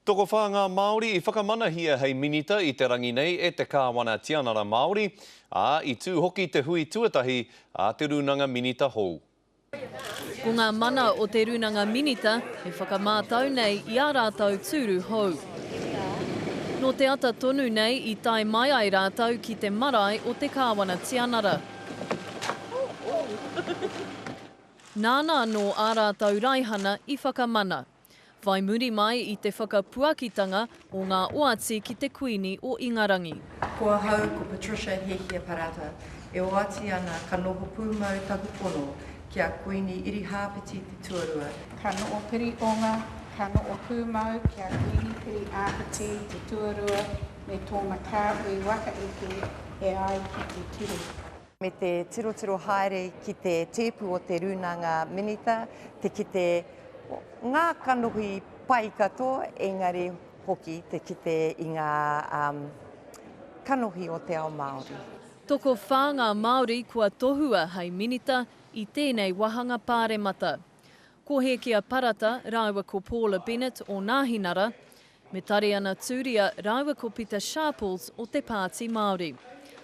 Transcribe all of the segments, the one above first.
Tokowhā ngā Māori i whakamanahia hei minita i te rangi nei e te Kāwana Tianara Māori, ā, i tū hoki te hui tuatahi a te Rūnanga Minita hou. Ko ngā mana o te Rūnanga Minita he whakamātau nei i ā rātou tūru hou. Nō te ata tonu nei i tae mai ai rātou ki te marae o te Kāwana Tianara. Nāna anō ā rātou raihana i whakamana. Whai muri mai i te whakapuakitanga o ngā oati ki te Kuini o Ingarangi. Ko ahau ko Patricia Hehia Parata, e oati ana ka noho pūmau taku pono ki a Kuini Irihāpeti te Tuarua, Ka noho pirihonga, ka noho pūmau ki a Kuini Piriāpeti te Tuarua me tōna kāhui waka eke e ai ki te ture. me te tirotiro haere ki te tēpu o te Rūnanga Minita, te kite ngā kanohi pai katoa, engari hoki te kite i ngā um, kanohi o te ao Māori. Tokowhā ngā Māori kua tohua hei Minita i tēnei wāhanga Pāremata. Ko Hēkia Parata rāua ko Paula Bennett o Nāhinara, Me Tariana Turia rāua ko Pita Sharples o te Pāti Māori.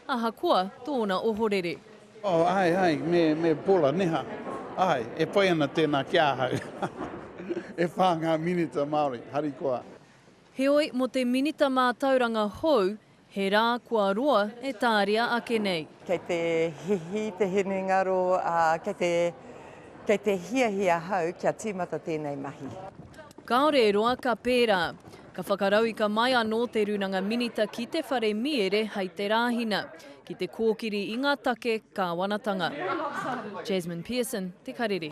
Ahakoa tōna ohorere. Oh, āe, āe, me, me Paula Neha. Āe, e pai ana tēnā ki ahau. E whā ngā Minita Māori, harikoa. Heoi, mō te Minita Mātauranga hou, He rā kua roa e tāria ake nei. Kei te hihi te hinengaro, ā, kei te, kei te hiahia ahau kia tīmata tēnei mahi. Kāore e roa ka pērā. Ka whakarauika mai anō te Rūnanga Minita ki te whare mīere hei te Rāhina, ki te kōkiri i ngā take kāwanatanga. Jasmine Pearson, Te Karere.